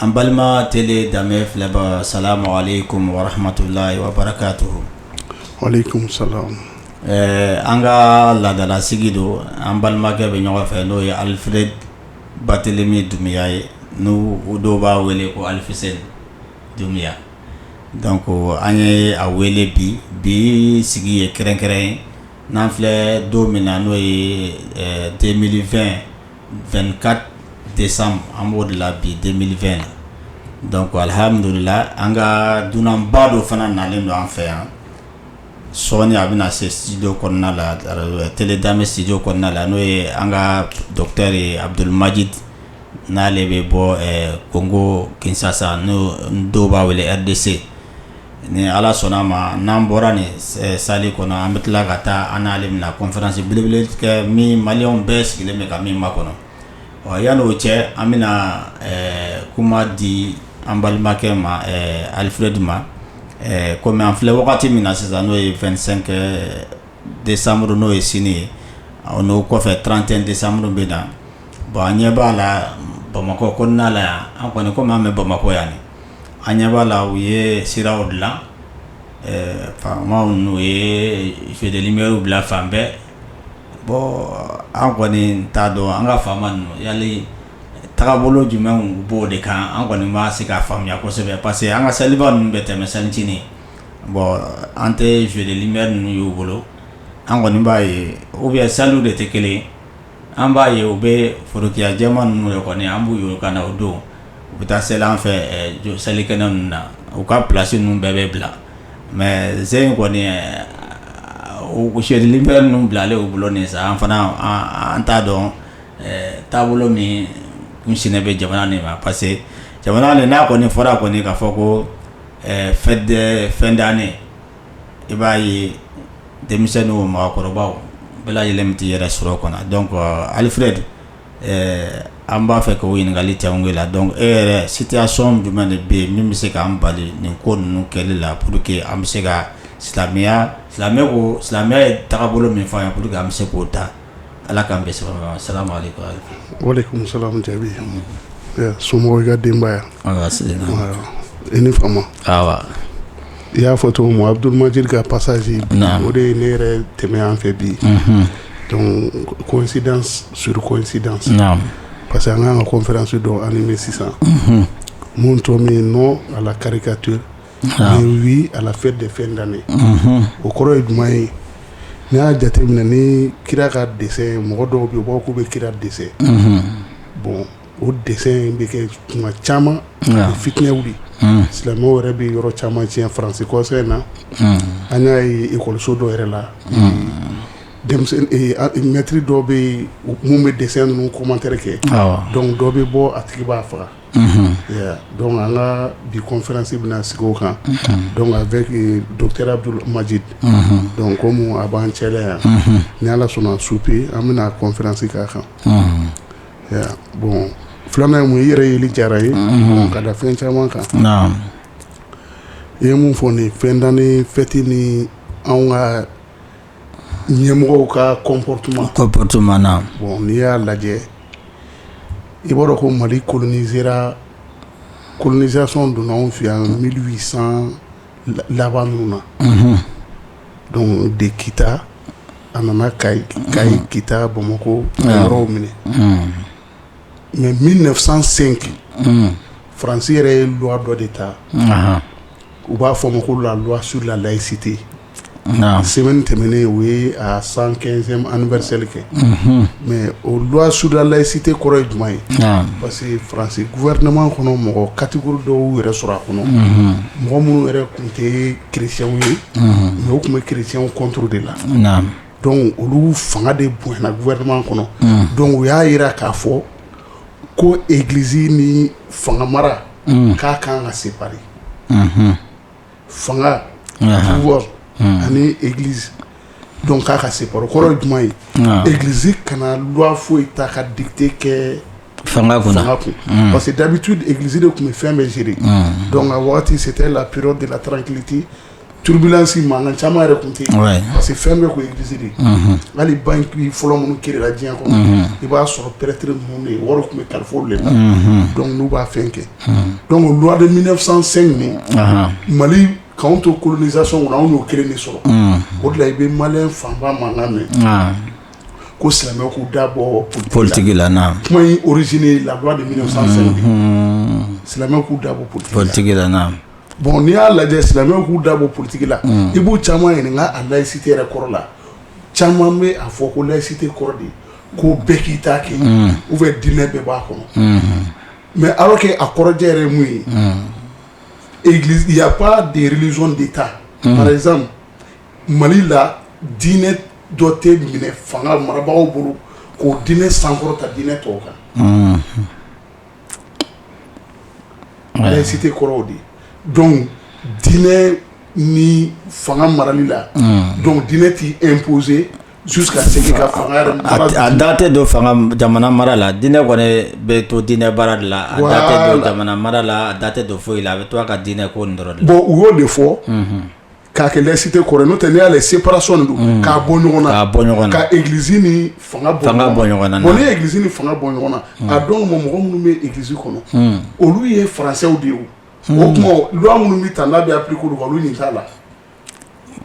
An balima tele danbe filɛbaa salamu alayikumu warahamatulahi wabarakatuhu ɛɛ an ka laadala sigi don an balimakɛ bɛ ɲɔgɔn fɛ n'o ye alifiredi batelemi dunbiya ye n'o dɔw b'a wele ko alifuseyini dunbiya donc an ye a wele bi bi sigi ye kɛrɛnkɛrɛn ye n'an filɛ don min na n'o ye deux mille vingt 24 desanburu an b'o de la bi deux mille vingt na donc alihamdulila an ka dunanba dɔ fana nalen don an fɛ yan sɔɔni a bɛna se studio kɔnɔna la tele danbe studio kɔnɔna la n'o ye an ka docteur abudulumajidi n'ale bɛ bɔ kongo kinsasa n'o dɔw b'a wele RDC ni ala sɔnna a ma n'an bɔra nin sali kɔnɔ an bɛ tila ka taa an n'ale bɛna kɔnferansi belebele kɛ min mali bɛɛ sigilen bɛ ka min makɔnɔ ɔ yanni o cɛ an bɛna kuma di an balimakɛ ma alifiredi ma kɔmi an filɛ wagati min na sisan n'o ye vingt-cinq desanburu n'o ye sini ye n'o kɔfɛ trente-un desanburu bɛ na bon an ɲɛ b'a la bamakɔ kɔnɔna la yan an kɔni ko an bɛ bamakɔ yan an ɲɛ b'a la u ye siraw dilan faama ninnu ye père noëlw bila fan bɛɛ bɔn an kɔni t'a dɔn an ka faamaya tagabolo jumɛn b'o de kan an kɔni tɛ se k'a faamuya kosɛbɛ parce que an ka saliba ninnu bɛ tɛmɛ sanc bɔn an tɛ jeux de lumière ninnu y'u bolo an kɔni b'a ye u bɛ sa de tɛ kelen an b'a ye u bɛ forotiyajɛ ninnu ye kɔni an b'u yɔrɔ ka na o don u bɛ taa seli an fɛ jɔ selikɛnɛ ninnu na u ka plasi ninnu bɛɛ bɛ bila mɛ ze in kɔni sɛden bɛ ninnu bila ale' bolo nin sisan an fana an t'a dɔn taabolo min sen bɛ jamana nin ma parce que jamana n'a kɔni fɔra kɔni k'a fɔ ko fin d'année i b'a ye denmisɛnnin o mɔgɔkɔrɔba o bɛɛ lajɛlen bɛ t'i yɛrɛ sɔrɔ a kɔnɔ donc alifiredi an b'a fɛ ka ɲininkali kɛ e la donc e yɛrɛ situation jumɛn de bɛ yen min bɛ se k'an bali nin ko ninnu kɛli la pour que an bɛ se ka silamɛya silamɛ ko silamɛya ye tagabolo min fɔ an ye pour que an bɛ se k'o ta Ala k'an bɛ sababu sirama o de kun jaabi somɔgɔw ka denbaya i ni fa i y'a fɔ cogo ma abudulilima ka pasazse o de ye ne yɛrɛ tɛmɛya fɛ bi kɔsid surkɔsid parce que an ka kan ka kɔnfɛransi dɔn ani bɛ sisan minnu tɔ min n nɔ a kari ka to wi à la fête de fin d'année o kɔrɔ ye jumɛn ye n y'a jate minɛ ni kira ka dessin mɔgɔ dɔw bɛ bɔ k'u bɛ kira dessin bon o dessin bɛ kɛ tuma caman fitinɛ wuli silamɛw yɛrɛ bɛ yɔrɔ caman tiɲɛ faransi kɔsa in na an y'a ye ekɔliso dɔ yɛrɛ la mɛtiri dɔ bɛ min bɛ dessin ninnu commentaire kɛ dɔnku dɔ bɛ bɔ a tigi b'a faga dɔnku an ka bi kɔnferansi bɛna sigi o kan dɔnku avec docteur abdul majid dɔnku komi a b'an cɛ yan ni ala sɔnna su fɛ an bɛna kɔnferansi k'a kan bon filanan ye mun i yɛrɛ yeli jara ye ka da fɛn caman kan i ye mun fɔ nin fin d'année fɛti ni an ka ɲɛmɔgɔw ka comportement na bon n'i y'a lajɛ i b'a dɔn ko mali kolonizera kolonizasiyɔn donna anw fɛ yan mille huit cent laban ninnu na dɔnku de kita a nana kayi kita bamakɔ yɔrɔw minɛ mɛ mille neuf cent cinq faransi yɛrɛ ye loi dɔ de ta u b'a fɔ ma ko la loi sur la layisite semaine tɛmɛnen u y'a cent quinzième anniversaire kɛ mɛ o loi sur la layisite kɔrɔ ye jumɛn ye parce que faransi gouvernement kɔnɔ mɔgɔ catégorie dɔw yɛrɛ sɔrɔ a kɔnɔ mɔgɔ minnu yɛrɛ tun tɛ kerecɛnw ye mɛ u tun bɛ kerecɛnw contre de la dɔnku olu fanga de bonyana gouvernement kɔnɔ dɔnku u y'a jira k'a fɔ ko egiliz ni fanga mara k'a ka kan ka séparer fanga pouvoir ani egiliz dɔnku k'a ka séparer o kɔrɔ jumɛn ye egiliz kana loi foyi ta ka dikite kɛ fanga kun parce que d'habitude egiliz de tun bɛ fɛn bɛɛ gérer dɔnku a waati c'était la période de la tranquillité turbulence mankan caman yɛrɛ tun tɛ yen parce que fɛn bɛɛ ko egiliz hali banki fɔlɔ minnu créé diɲɛ kɔnɔ i b'a sɔrɔ pɛrɛtiri ninnu de ye wari tun bɛ kalifa u de la dɔnku n'u b'a fɛn kɛ dɔnku loi de mille neuf cent cinq nin mali k'an to kolonizasiyɔn kɔnɔ anw y'o kelen de sɔrɔ o de la i bɛ mali fanba mankan mɛn ko silamɛw k'u da bɔ politigi la kuma oruze la de silamɛw k'u da bɔ politigi la bon n'i y'a lajɛ silamɛw k'u da bɔ politigi la i b'u caman ɲininka layisite yɛrɛ kɔrɔ la caman bɛ a fɔ ko layisite kɔrɔ de ko bɛɛ k'i ta kɛ u bɛ diinɛ bɛɛ b'a kɔnɔ mɛ alors que a kɔrɔjɛ yɛrɛ mun ye y a pas de religion d'état Mali la diinɛ dɔ tɛ minɛ fanga marabagaw bolo k'o diinɛ sankɔrɔta diinɛ tɔw kan laïcité kɔrɔ o de ye dɔnku diinɛ ni fanga marali la dɔnku diinɛ tɛ imposer su ka segin ka da tɛ don fanga jamana mara la diinɛ kɔni bɛ to diinɛ baara de la mara la a da tɛ don foyi la a bɛ to ka diinɛ ko dɔrɔn bon u y'o de fɔ K'a kɛ laïcité kɔrɔ ye n'o tɛ n'i y'a lajɛ séparation de don unhun k'a bɔ ɲɔgɔn na k'a bɔ ɲɔgɔn na ka église ni faŋa bɔ faŋa bɔ ɲɔgɔn na bon n'i ye église ni faŋa bɔ ɲɔgɔn na unh a dɔw ma mɔgɔ minnu be église kɔnɔ unh olu ye françaisw de ye o unh o tuma loi minnu bi ta n'a be appliquer olu kan olu ɲin t'a la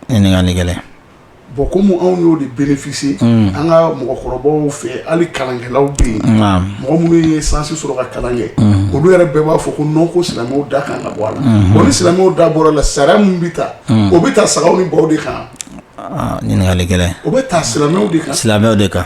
ɲininkali gɛlɛn Bon kɔmi anw y'o de bénéficier an ka mɔgɔkɔrɔbaw fɛ hali kalankɛlaw bɛ yen mɔgɔ minnu ye sansi sɔrɔ ka kalan kɛ olu yɛrɛ bɛɛ b'a fɔ ko non ko silamɛw da kan ka bɔ a la ko ni silamɛw da bɔra a la sariya min bɛ ta o bɛ ta sagaw ni baw de kan ɲininkali gɛlɛn o bɛ ta silamɛw de silamɛw de kan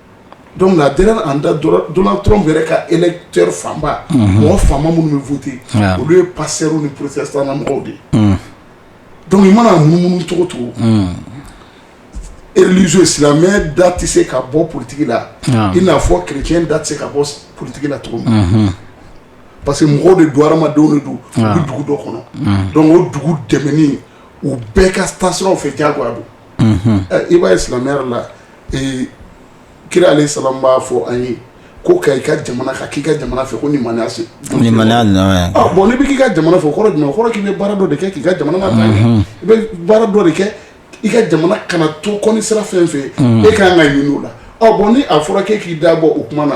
donc la dernière en date Donald Trump yɛrɛ ka électeur fanba mɔgɔ fanba minnu bɛ voter olu ye pasteur ni protestant mɔgɔw de ye donc i mana munumunu cogo o cogo religieux silamɛ da tɛ se ka bɔ politiki la i n'a fɔ kerecɛn da tɛ se ka bɔ politiki la cogo min parce que mɔgɔw de don hadamadenw de don u bɛ dugu dɔ kɔnɔ donc o dugu dɛmɛni u bɛɛ ka tasiraw fɛ diyagoya don i b'a ye silamɛya yɛrɛ la kira alayhi salam b'a fɔ an ye ko ka i ka jamana kanu k'i ka jamana fɛ ko limaniya se bon i bɛ k'i ka jamana fɛ kɔrɔ jumɛn kɔrɔ k'i bɛ baara dɔ de kɛ k'i ka jamana ta i bɛ baara dɔ de kɛ i ka jamana kana to kɔ ni sira fɛn fɛ e ka kan ka ɲini o la bon ni a fɔra k'e k'i da bɔ o kuma na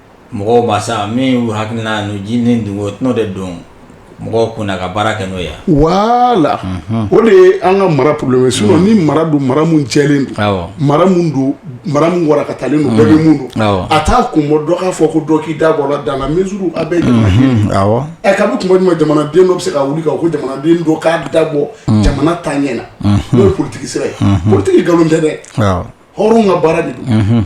mɔgɔw ma sa min y'u hakilina n'u ji ni dugu o tɛnɔ de don mɔgɔw kunna ka baara kɛ n'o ye wala o de ye an ka mara problème sinon mara don mara min cɛlen mara don mara min wara ka taalen don bɛɛ min don a t'a kun bɔ dɔ k'a fɔ ko dɔ k'i da bɔ dans la mesure a bɛ ɛ tuma jumɛn jamanaden dɔ bɛ se ka wuli ko jamanaden don k'a da bɔ jamana taaɲɛ na n'o ye politiki sira ye politiki nkalon tɛ dɛ hɔrɔn ka baara de don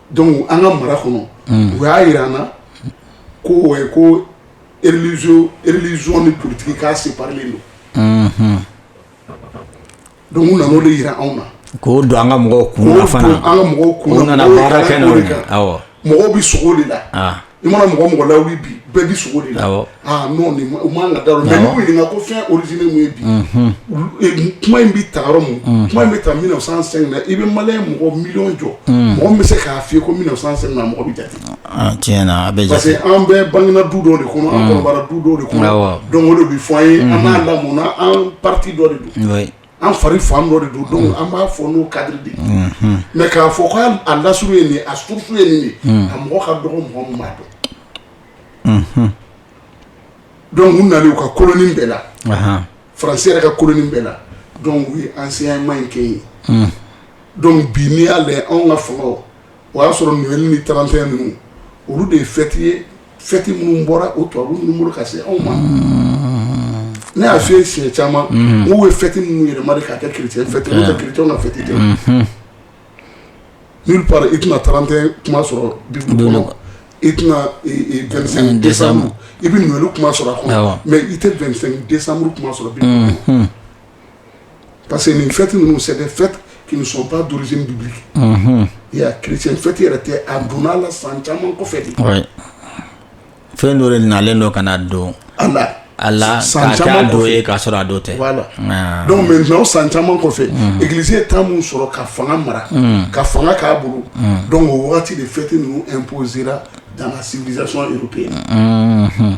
Dɔnku an ka mara kɔnɔ u y'a jira an na ko ko religion ni politiki k'a séparélen don dɔnku nana o de jira anw na ko don an ka mɔgɔw kun an ka mɔgɔw kun nana baara kɛ mɔgɔw bɛ sogo de la i mana mɔgɔ o mɔgɔ lawuli bi bɛɛ bi sogo de la awɔ ah non nin ma- u man ka da yɔrɔ mais Awɔ. n'i k'u ɲininka ko fɛn origine mun ye bi Mhm. olu- eh, kuma in bɛ taa yɔrɔ min kuma in bɛ taa 1905 na i bɛ maliyɛn mɔgɔ miliyɔn jɔ mɔgɔ min bɛ se k'a f'i ye ko 1905 na mɔgɔ bɛ jate Ah, tiɲɛ na a bɛ parce jate que an bɛɛ bangena du dɔ de kɔnɔ an kɔrɔbayara du dɔ de kɔnɔ Awɔ. donc o de bɛ fɔ an ye an n'a lamɔna an partie dɔ de don oui An fari fan dɔ de don donc an b'a fɔ n'o cadre de ye, unhun, mais k'a fɔ k'a lasuru ye nin ye a source ye nin ye, unhun, a mɔgɔ ka dɔgɔ mɔgɔ min b'a dɔn, unhun, donc u nalen u ka koloni bɛɛ la, anhan, France yɛrɛ ka koloni bɛɛ la donc u ye enseignement in kɛ yen, unhun, donc bi n'i y'a lajɛ anw ka fanga o y'a sɔrɔ Noel ni 31 ninnu olu de ye fête ye fɛti minnu bɔra o tubabu ninnu bolo ka se anw ma ne y'a fɔ siɲɛ caman n'u ye fɛti minnu yɛlɛma de k'a kɛ chrétien fɛti chrétien na fɛti tɛ n i tɛna 31 kuma sɔrɔ Bible kɔnɔ i tɛna 25 i bɛ Noel kuma sɔrɔ a kɔnɔ mɛ i tɛ 25 décembre kuma sɔrɔ bi Parce que nin fɛti ninnu sɛ fɛ kiba duuru bi i y'a chrétien fɛti yɛrɛ tɛ a donna san caman kɔ fɛ fɛn dɔ nalen don ka don a a san caman don ye k'a sɔrɔ a dɔ tɛ bɛ san caman kɔfɛ igilisi tan min sɔrɔ ka fanga mara ka fanga k'a bolo donc o waati de fɛti ninnu imposer dans civilisation païenne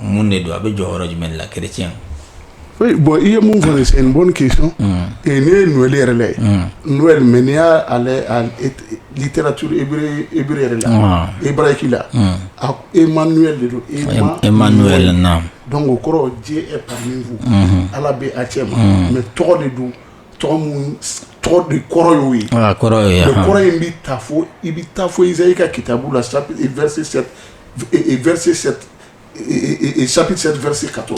Mun de don a bɛ jɔ yɔrɔ jumɛn la kec bɔn i ye mun fɔ ye sen bɔn ke sɔn ne ye n weele yɛrɛ la ye n mɛ n'i y'alitɛ tu i yɛrɛ la i bara k'i la a e ma n de don e e ma n yɛrɛ na dɔn ko kɔrɔ diɲɛ e pa min fo ala bɛ a cɛ ma mɛ tɔgɔ de don tɔgɔ de kɔrɔ y'o ye kɔrɔ kɔrɔ in bɛ taa fo i bɛ taa fɔ i i ka kitabu la sa i vse sabu se vse ka to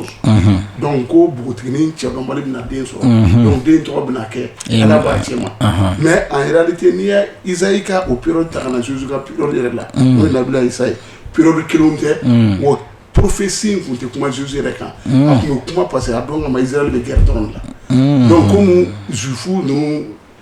dɔnku ko npogotigi cɛ bɛ na den sɔrɔ dɔnku den tɔgɔ bɛ kɛ ala b'a cɛ ma mɛ a yɛrɛali tɛ n'i yezali ka o pere ta kana na susu ka pere yɛrɛ la n'o labilayisayi ye pereri kelen tɛ mɔgɔ porofin tun tɛ kuma zz yɛrɛ kan a tun kuma parce que a dɔn ka izli bɛ gɛrɛ dɔrɔn la dɔnku ko zufu ninnu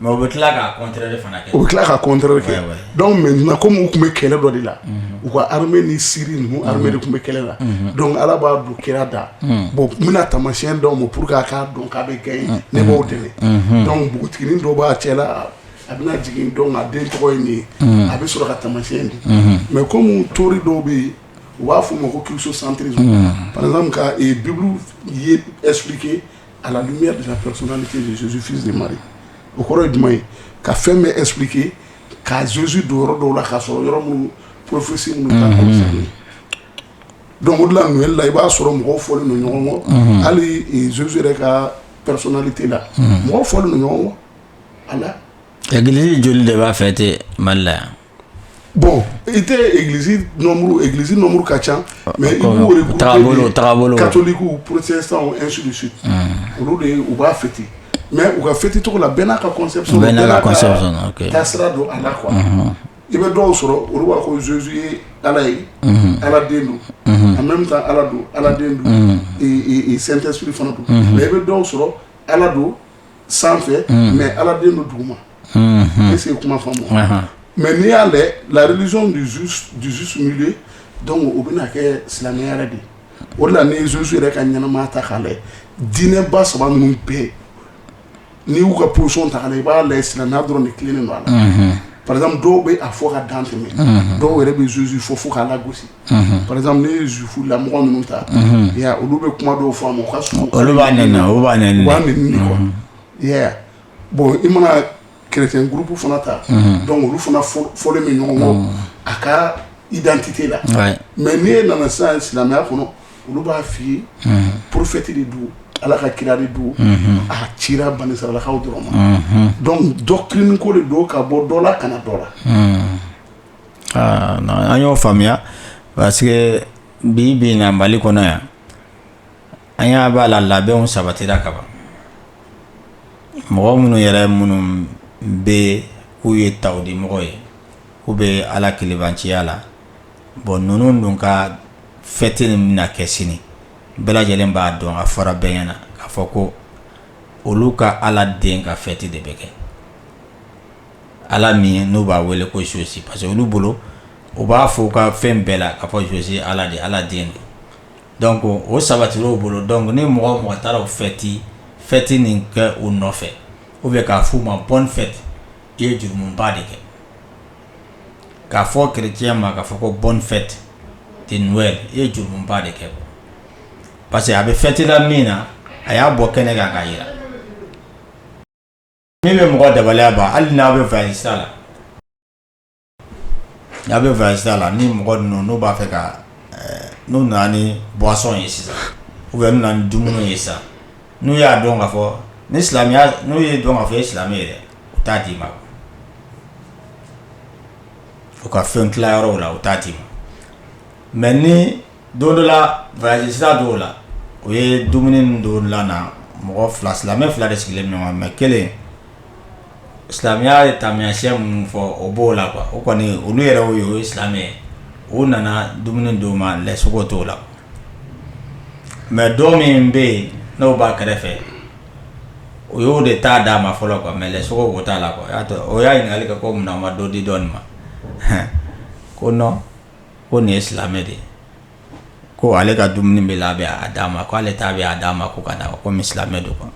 Mais u bɛ tila k'a contraire fana kɛ, u bɛ tila k'a contraire kɛ, oui, oui, donc maintenant comme u tun bɛ kɛlɛ dɔ de la, unhun, u ka armée ni Syrie ninnu armée de tun bɛ kɛlɛ la, unhun, donc Ala b'a don kira da, unhun, bon n bɛna taamasiyɛn d'aw ma pour que a k'a dɔn k'a bɛ gagner unhun, ne b'aw dɛmɛ, unhun, donc npogotiginin dɔ b'a cɛla a bɛna jigin donc a den tɔgɔ ye nin ye, unhun, a bɛ sɔrɔ ka taamasiyɛn di, unhun, mais comme théorie dɔw bɛ yen u b'a fɔ o ma ko christocentrisme unhun, par exemple ka Bible ye expliquer A la lumière de la personnalité de Jésus fils de Marie o kɔrɔ ye jumɛn ye ka fɛn bɛɛ expliquer ka Jésus don yɔrɔ dɔw la k'a sɔrɔ yɔrɔ minnu prophétie minnu t'a concerner donc o de la Noël la i b'a sɔrɔ mɔgɔw fɔlen don ɲɔgɔn kɔ hali Jésus yɛrɛ ka personnalité la mɔgɔw fɔlen don ɲɔgɔn kɔ a la église joli de b'a fêter Mali la yan bɔn i tɛ egiliz nɔnmuru ka ca mɛ katoliku protestant ainsi de suite olu de u b'a fêter mɛ u ka fêter cogo la bɛɛ n'a ka don a la parce que i bɛ dɔw sɔrɔ olu b'a ko Jésus ye ala ye ala den don en même temps ala don ala den don Saint-Esprit fana don mɛ i bɛ dɔw sɔrɔ ala don sanfɛ mɛ ala den don duguma ne se kuma faamu mɛ n'i y'a dɛ la religion du juste milieu dɔnku o bɛna kɛ silamɛya yɛrɛ de o la ni Jésus yɛrɛ ka ɲɛnamaya ta k'a la diinɛba saba minnu bɛ yen n'i y'u ka position ta i b'a la silamɛya dɔrɔn ni kelen don a la par exemple dɔw bɛ a fɔ ka dantɛmɛ dɔw yɛrɛ bɛ Jésus fɔ fo k'a lagosi par exemple n'i ye juif la mɔgɔ minnu ta olu bɛ kuma dɔw fɔ ka sun olu b'a bɔn i mana chrétien groupe fana ta dɔnku olu fana fɔlen bɛ ɲɔgɔn kɔ a ka identité la mɛ n'i ye nana sa silamɛya kɔnɔ olu b'a fɔ i ye prophète de don ala ka kira de don a cira banisirayilakaw dɔrɔn ma dɔnku doctrine ko de don ka bɔ dɔ la ka na dɔ la Aa non an y'o faamuya parce que bi bi in na Mali kɔnɔ yan an ɲɛ b'a la labɛnw sabatira ka ban mɔgɔ minnu yɛrɛ minnu bɛ yen k'u ye tawhidi mɔgɔ ye k'u bɛ Ala kelebanciya la bon ninnu dun ka fête min bɛna kɛ sini bɛɛ lajɛlen b'a dɔn a fɔra bɛɛ ɲɛ na k'a fɔ ko olu ka Ala den ka fête de bɛ kɛ Ala min n'u b'a wele ko Jésus parce que olu bolo u b'a fɔ u ka fɛn bɛɛ la k'a fɔ Jésus ala de ala den don ko o sabatil'u bolo dɔnku ni mɔgɔ o mɔgɔ taara o fɛti fɛti nin kɛ u nɔfɛ ou bien k'a f'u ma bonne fête i ye jurumuba de kɛ k'a fɔ chrétien ma k'a fɔ ko bonne fête i ye jurumuba de kɛ parce que a bɛ fɛti la min na a y'a bɔ kɛnɛ kan k'a jira min bɛ mɔgɔ dabaliya ban hali n'a bɛ faransi sira la n'a bɛ faransi sira la ni mɔgɔ ninnu n'u b'a fɛ ka eh, n'u nana ni buwasɔn ye sisan ou bien n'u nana ni dumuni ye sisan n'u y'a dɔn k'a fɔ ni silamɛya n'u y'a dɔn k'a fɔ e ye silamɛ ye dɛ u t'a d'i ma u ka fɛn tila yɔrɔw la u t'a d'i ma mɛ ni Don dɔ la voyage sira dɔ la o ye dumuni don la mɔgɔ fila silamɛ fila de sigilen ɲɔgɔn mɛ kelen silamɛya ye taamasiyɛn minnu fɔ o b'o la qu o kɔni olu yɛrɛ o ye o ye silamɛ o nana dumuni d'o ma lɛ sogo t'o la mɛ dɔ min bɛ yen n'o b'a kɛrɛfɛ o y'o de ta d'a ma fɔlɔ ka lɛ sogo t'a la y'a o y'a ɲininka'ale ka ko minɛn ma dɔ di dɔɔnin ma ko ko nin ye silamɛ de ye ko ale ka dumuni bila d'a ma k' ale ta d'a ma ko ka da ko silamɛ don kɔnɔ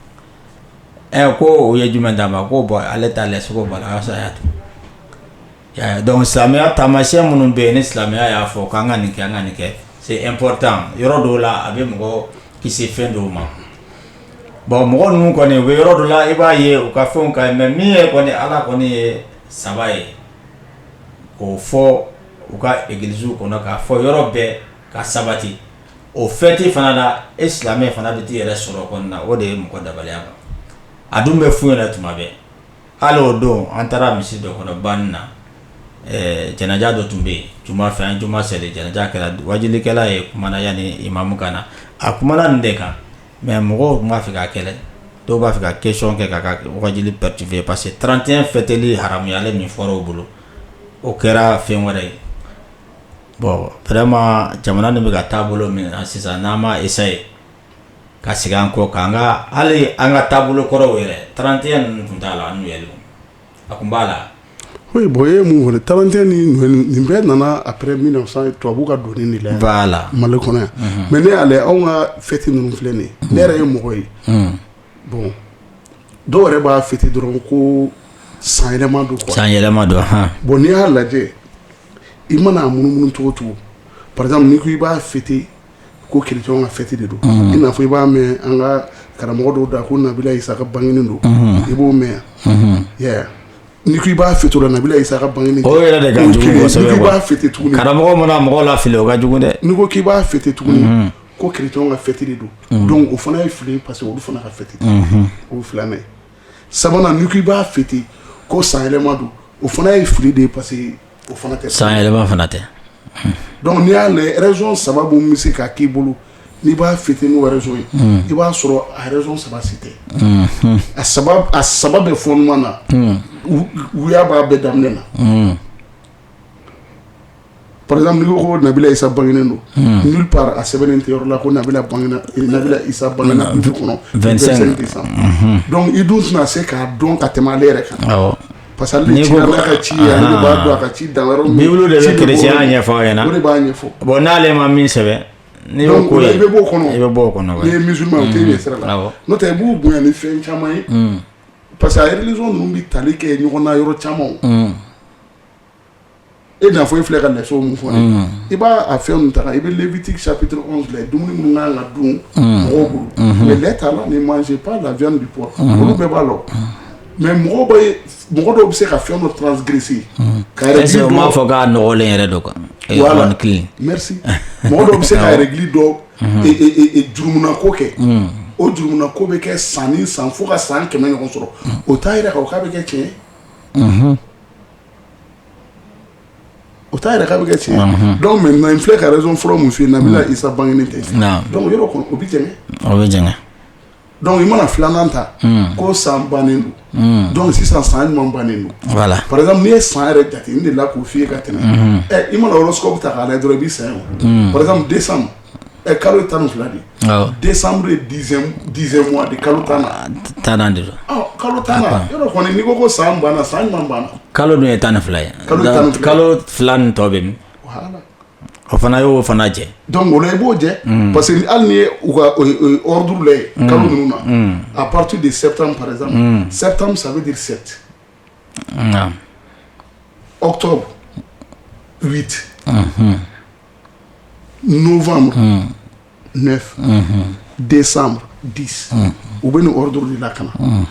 ɛ ko o ye jumɛn d'a ma ko bɔn ale ta lɛ sogo b'a la saya dɔnku silamɛya taamasiyɛn minnu bɛ yen ni silamɛya y'a fɔ k'an ka nin kɛ an ka nin kɛ c'est important yɔrɔ dɔw la a bɛ mɔgɔ kisi fɛn dɔw ma bon mɔgɔ ninnu kɔni u bɛ yɔrɔ dɔ la i b'a ye u ka fɛn ka mɛ min ye kɔni ala kɔni ye saba ye k'o fɔ u ka egilisiw kɔnɔ k'a fɔ yɔrɔ bɛɛ k'a sabati o fɛti fana la e silamɛ fana bɛ t'i yɛrɛ sɔrɔ kɔnɔna o de ye mɔgɔ dabaliya kan a dun bɛ fɔ yɛrɛ tuma bɛɛ hali o don an taara misiri dɔ kɔnɔ ban na janaja dɔ tun bɛ yen juma fɛ an juma seli janaja kɛra waajulikɛla ye kuma na yanni imamu ka na a kumana nin de kan Mɛ mɔgɔw tun b'a fɛ ka kɛlɛ dɔw b'a fɛ ka question kɛ ka waajuli perturber parce que trente-un fɛtili haramuyali min fɔra u bolo o kɛra fɛn wɛrɛ ye bɔn vraiment jamana nin bɛ ka taabolo min ta sisan n'an ma esaye ka segin an kɔ k'an ka hali an ka taabolo kɔrɔw yɛrɛ trente-un ninnu tun t'a la an' A tun b'a la ko bɔn ye mun trente-un nin bɛɛ nana après mille neuf cent tubabu ka don de la b'a la mali kɔnɔ yan mɛ ne y'a lajɛ anw ka fɛti ninnu filɛ nin ne yɛrɛ ye mɔgɔ ye bɔn dɔw yɛrɛ b'a fɛti dɔrɔn ko san yɛlɛma don san yɛlɛma don h bɔn n'i y'a lajɛ i mana a munumunu cogo cogo par exemple ni ko i b'a fi ko kerecɛnw ka fɛti de don i n'a fɔ i b'a mɛn an ka karamɔgɔ dɔw da ko nabila isa ka bange don i b'o mɛn ni i b'a fɛti nabila isa ka ban yɛrɛ b'a fɛti tugun karamɔgɔ mana mɔgɔ lafili o ka jugu dɛ n ko k'i b'a fɛti tugun ko kerecɛnw ka fɛti don don o fana ye fili parce que olu fana ka fɛti o filanan sabanan ni ko i b'a fɛti ko sanyɛlɛma don o fana ye fili de ye pa O fana tɛ san yɛlɛma fana tɛ dɔnku n'i y'a mɛn rezɔn saba bɛ se ka k'i bolo n'i b'a fɛti ni rezɔn ye i b'a sɔrɔ a rezɔn saba si tɛ a a saba bɛ fɔ ɲɔgɔn na uya b'a bɛɛ daminɛ na paz ko nabila isa bange don n taara a sɛbɛn tɛ yɔrɔ la ko nabila isa bange don kɔnɔ dɔnku i dun tɛna se k'a dɔn ka tɛmɛ ale yɛrɛ kan Pasa ci ka ci b'a a ka ci da bible de bɛ chrétien ɲɛfɔ ɲɛna o de b'a ɲɛfɔ bɔn n'ale ma min sɛbɛn n' ko i bɛ bɔ kɔnɔ i bɛ bɔ kɔnɔ ye misi tɛ sira la n'o tɛ i b'u bonya ni fɛn caman ye parce que religion ninnu bɛ tali kɛ ɲɔgɔn na yɔrɔ caman e n'a fɔ e filɛ ka raison min fɔ i b'a fɛn ta i bɛ Lévitique chapitre filɛ dumuni minnu kan ka dun mɔgɔw bolo mais lɛ t'a la ni ma se' la bɛ bɔ olu bɛɛ b'a la mais mɔgɔ mɔgɔ dɔw bɛ se ka fɛn dɔ transi ka b'a fɔ k'a nɔgɔlen yɛrɛ dɔ kan mɔgɔ dɔw bɛ se ka yɛrɛli dɔ juruuna ko kɛ o juruuna ko bɛ kɛ san san fo ka san kɛmɛ ɲɔgɔn sɔrɔ o t'a jira k'a bɛ kɛ tiɲɛ O t'a jira k'a bɛ kɛ tiɲɛ donc maintenant n filɛ ka raison fɔlɔ min fɔ nabila Isa bangelen tɛ donc o yɔrɔ o bɛ jɛgɛ o bɛ jɛgɛ donc i mana filanan ta ko san bannen don donc sisan san ɲuman bannen don par exemple n'i ye san yɛrɛ jate de la k'o fɔ ka tɛmɛ i mana horoscope ta dɔrɔn i bɛ sa o de ɛ kalo ye tan ni fila de ye awɔ décembre ye dixième dixième mois de ye kalo tan tannan de don ɔ kalo tannan yɔrɔ kɔni n'i ko ko san banna san ɲuman banna kalo dun ye tan ni fila ye Kalo tan ni fila. Donc, kalo fila nin tɔ bɛ min voilà o fana y'o fana jɛ donc o la i b'o jɛ parce que hali n'i ye u ka o ye- o ye ordre la ye kalo ninnu na à partir de septembre par exemple septembre ça veut dire sept nka octobre huit novembre mm. 9 mm -hmm. décembre 10 mm. u bɛ nin ordre de la ka na mm.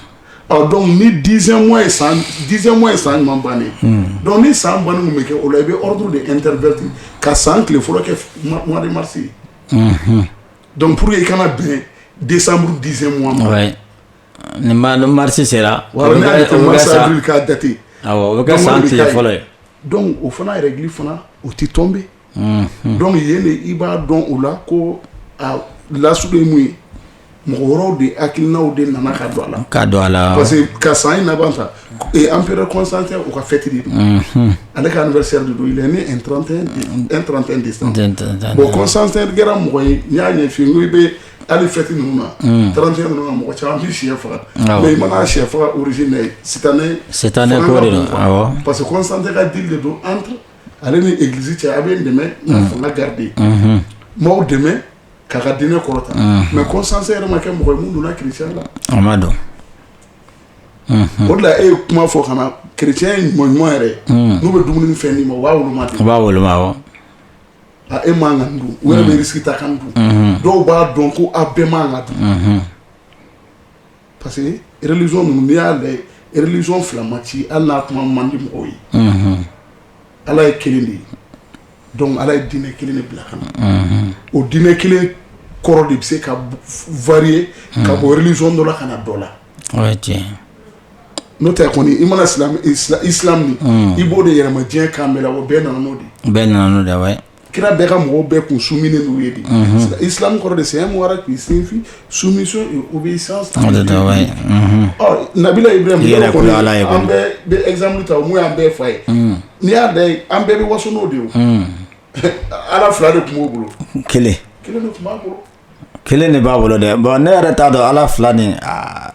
ɔ donc ni dixième mois ye san dixième mois ye san ɲuman bannen mm. donc ni san bannen mun bɛ kɛ o la i bɛ ordre de interverti ka san tile fɔlɔ kɛ mois de mars ye mm -hmm. donc pour que i ka na bɛn décembre dixième mois ma ouais. Ni mars sera wa ka date o bɛ san fɔlɔ ye donc o fana règle fana o tɛ tomber donc yen de i b'a dɔn o la ko a lasili ye mun ye mɔgɔ wɛrɛw de hakilinaw de nana ka don a la ka don a la parce que ka san in laban ta empereur Constantin u ka fête ale ka anniversaire don trente et un de bon Constantin kɛra mɔgɔ ye n y'a ɲɛfɔ n i bɛ hali fête ninnu na trente et un ninnu na mɔgɔ caman bɛ shɛ faga mais i mana shɛ faga orusi na sitanɛ sitanɛ ko de parce que Constantin ka deal de don an ale ni egilisi cɛ aw bɛ n dɛmɛ fanga garder n b'aw dɛmɛ k'a ka diinɛ kɔrɔta mais Constantin yɛrɛ ma kɛ mɔgɔ minnu donna kerecɛnya la a ma don o la e ye kuma fɔ ka na kerecɛn ɲuman ɲuman yɛrɛ n'u bɛ dumuni fɛn' ma u b'a wolo b'a wolo A e man kan ka nin dun u yɛrɛ bɛ risque ta ka nin dun, unhun, dɔw b'a dɔn ko a bɛɛ man kan ka dun, unhun, parce que religion ninnu n'i y'a lajɛ religion fila ma ci hali n'a kuma man di mɔgɔw ye, unhun, Ala ye kelen de ye donc Ala ye diinɛ kelen de bila ka na, unhun, o diinɛ kelen kɔrɔ de bɛ se ka varier ka bɔ religion dɔ la ka na dɔ la, o ye tiɲɛ ye. n'o tɛ kɔni i mana islam nin i b'o de yɛlɛma diɲɛ kan bɛɛ la o bɛɛ nana n'o de bɛɛ nana da kira bɛɛ ka mɔgɔw bɛɛ kun su minɛ n'u ye de i kɔrɔ de saya mɔgɔ k'i sinsin su u bɛ san nabila Ibrahima exemple ta n'o y'an bɛɛ fa ye n'i y'a da an bɛɛ bɛ waso o de ye ala fila de tun b'o bolo kelen kelen tun b'a bolo kelen de b'a bolo dɛ bon ne yɛrɛ t'a dɔn ala fila ni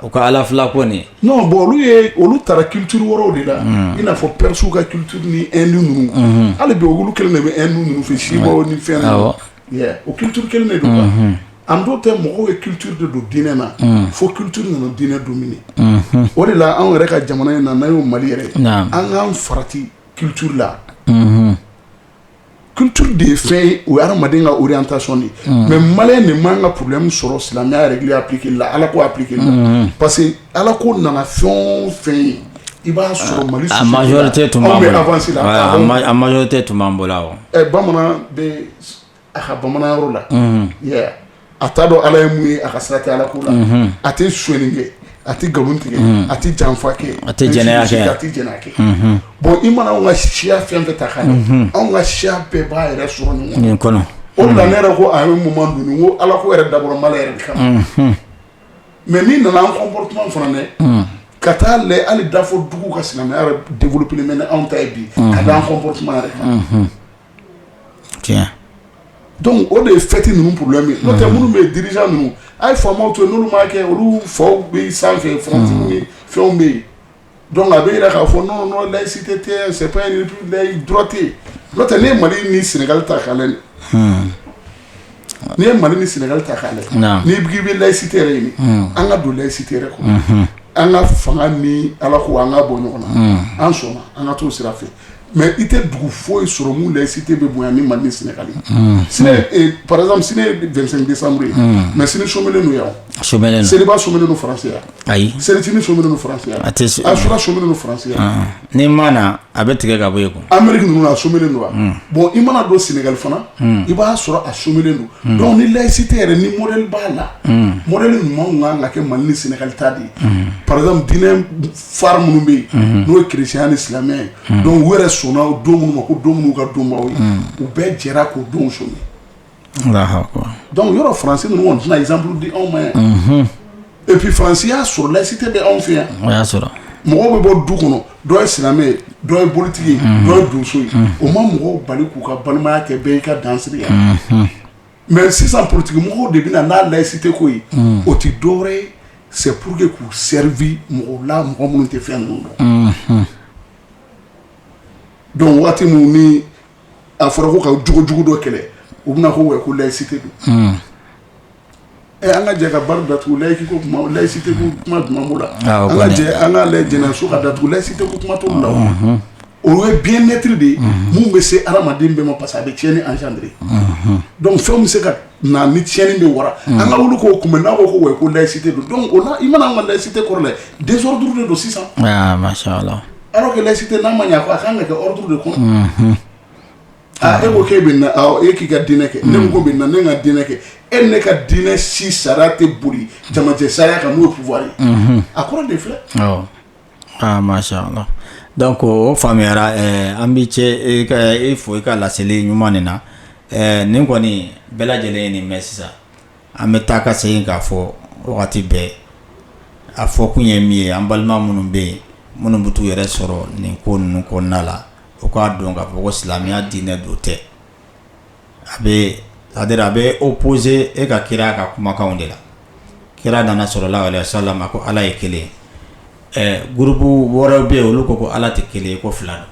u ka ala fila ko nin bon olu ye olu taara culture wɛrɛw de la i n'a fɔ persew ka culture ni inde ninnu hali bi olu kelen de bɛ inde ninnu fɛ siva o ni fɛn o culture kelen de don an dɔw tɛ mɔgɔw ye culture de don diinɛ na fo culture nana diinɛ dominer o de la anw yɛrɛ ka jamana in na n'a y'o mali yɛrɛ an k'an farati culture la culture de ye fɛn ye o ye adamaden ka orientation de mais mali de man kan ka problème sɔrɔ silamɛya yɛrɛ appliquer la ala ko appliquer parce que ala ko nana fɛn o fɛn ye i b'a sɔrɔ mali avance la a majorité tun b'an bolo bamanan bɛ a ka bamananya la a t'a dɔn ala ye mun ye a ka sira tɛ ala ko la a tɛ sonya kɛ a tɛ nkalon tigɛ a tɛ janfa kɛ a tɛ jɛnɛ a tɛ jɛnɛya kɛ bon i mana anw ka siya fɛn o fɛn ta ka anw ka siya bɛɛ b'a yɛrɛ sɔrɔ ɲɔgɔn kɔnɔ o la ne yɛrɛ ko a ye mun dun ko ala ko yɛrɛ dabɔra mali yɛrɛ kama mais min nana an comportement fana dɛ ka taa la hali dafo dugu ka silamɛya yɛrɛ développé bɛ anw ta ye bi ka an comportement yɛrɛ kan o de ye fɛti ninnu problème min n'o tɛ minnu bɛ di ninnu a ye fa to n kɛ olu fa bɛ san fɛn fɛnw bɛ yen donc a bɛ jira k'a fɔ non non laïcité tɛ sɛ dɔrɔte n'o tɛ ne mali ni sénégal ta ka n ye mali ni sénégal ta ka ni bɛ laïcité yen an ka don laïcité kɔnɔ an ka fanga ni ala ko an ka bɔ ɲɔgɔn na an sɔnna an ka t sira fɛ Mɛ i tɛ dugu foyi sɔrɔ min la i si tɛ bɛ bonya ni mande sina paz sini desauru ye mɛ sini so kelen don yan so seliba so don faraya ayi selicinin so don faraya a tɛ a fura so don faraya ni mana a bɛ tigɛ ka bɔ yen anmeri ninnu a so don wa bon i mana don sengali fana i b'a sɔrɔ a so kelen don dɔnku ni layisi tɛ yɛrɛ ni mɔnɛ b'a la mɔnɛ ɲuman kan ka kɛ mande sengali ta de ye paz fa minnu bɛ yen n'o ye chrétien ni silamɛ ye don wɛrɛ sɔnna o don minnu ma ko don minnu ka donba ye u bɛɛ jɛra k'o don so donc yɔrɔ français ninnu tɛna exemple di anw ma yan et puis faransi y'a sɔrɔ layisite bɛ anw fɛ yan o y'a sɔrɔ mɔgɔ bɛ bɔ du kɔnɔ dɔ ye silamɛ dɔ ye bolitigi ye dɔ ye donso ye o ma mɔgɔw bali k'u ka balimaya kɛ bɛɛ' ka dansigi yan mais sisan politikimɔgɔw de bɛ na ni layisite ko ye o tɛ dɔwɛrɛ ye c'est pour que k'u servir mɔgɔw la mɔgɔ minnu tɛ fɛn ninnu dɔn donc waati min ni a fɔra ko ka jogo jugu dɔ kɛlɛ u bɛna ko wayi ko layisite don Ɛ an ka jɛ ka bar datugu layiki ko kuma layisite kuma jumɛn b'o la an ka jɛ an ka lajɛ jɛnɛyaso ka datugu layisite kuma t'o la o ye bien être de ye min bɛ se hadamaden bɛɛ ma parce que a bɛ tiɲɛni engendrer donc fɛn bɛ se ka na ni tiɲɛni de ye wara an ka wuli k'o kunbɛ n'a ko ko wayi ko layisite don donc o la i mana an ka layisite kɔrɔ lajɛ desordre de don sisan alors que layisite n'a man ɲɛ a ka kan ka kɛ ordre de kɔnɔ. E ko e bɛna i ka diinɛ kɛ ne ko bɛna ne ka diinɛ kɛ e ni ne ka diinɛ si sariya tɛ boli jamana sariya kan voilà a kɔrɔ de filɛ mashallah donc o faamuyara an bɛ cɛ i fo i ka laseli ɲuman nin na nin kɔni bɛɛ lajɛlen ye nin mɛn sisan an bɛ taa ka segin k'a fɔ wagati bɛɛ a fɔ kun ye min ye an balima minnu bɛ yen minnu bɛ taa u yɛrɛ sɔrɔ nin ko ninnu kɔnɔna la u k'a dɔn ka fɔ ko silamɛya diinɛ don tɛ a bɛ a bɛ opposer e ka kira a ka kumakanw de la kira nana salallahu aleyihi wa salam ko ala ye kelen groupe wɛrɛ bɛ yen olu ko ko ala tɛ kelen ko fila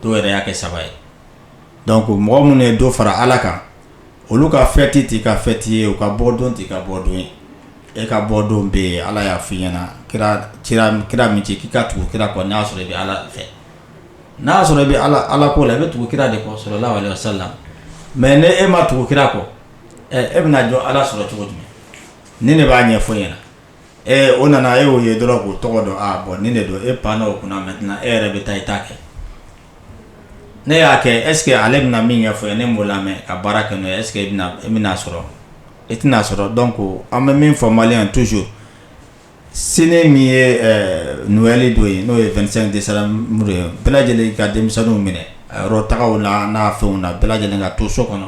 don dɔw yɛrɛ y'a kɛ saba ye donc ko mɔgɔ minnu ye dɔ fara ala kan olu ka fɛti t'i ka fɛti ye u ka bɔdon t'i ka bɔdon ye e ka bɔdon bɛ yen ala y'a fɔ i ɲɛna kira min ci k'i ka tugu kira kɔ n'a sɔrɔ i bɛ ala fɛ n'a y'a sɔrɔ i bɛ Ala ko la i bɛ tugu kira de kɔ salallahu aleyihi wa salam mais ni e ma tugu kira kɔ e bɛna a dɔn Ala sɔrɔ cogo jumɛn ni ne b'a ɲɛfɔ e ɲɛna ɛ o nana e y'o ye dɔrɔn k'o tɔgɔ dɔn aa bon nin de don e panna o kunna maintenant e yɛrɛ bɛ taa i ta kɛ n'e y'a kɛ est ce que ale bɛna min ɲɛfɔ e ye n'e m'o lamɛn ka baara kɛ n'o ye est ce que e bɛna a sɔrɔ e tɛna a sɔrɔ donc an bɛ min fɔ maliyɛnw ye toujours sini min ye ɛɛ noël don ye n'o ye 25 décembre ye bɛɛ lajɛlen ka denmisɛnninw minɛ a yɔrɔ tagaw la n'a fɛnw na bɛɛ lajɛlen ka to so kɔnɔ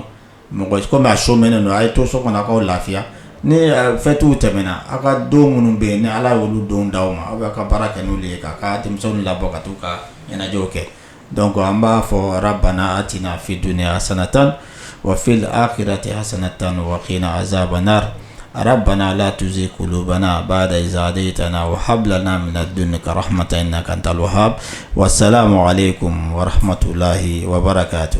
mɔgɔ si comme a sɔminen don a ye to so kɔnɔ a k'aw lafiya ni ɛɛ fêtes tɛmɛna aw ka don minnu bɛ yen ni Ala ye olu donw di aw ma aw bɛ aw ka baara kɛ n'olu ye k'aw ka denmisɛnninw labɔ ka t'u ka ɲɛnajɛw kɛ dɔnku an b'a fɔ banna a tɛna fi dunya a san tan wa fili a kɛra tɛ a san tan na azsaabana ara banna la tuze kubana a b'a dazsa de ta na o habila n'a minɛ don kara hamata in na ka taa ha wa sa mɔgɔ ko hamatulayi wabara k'a to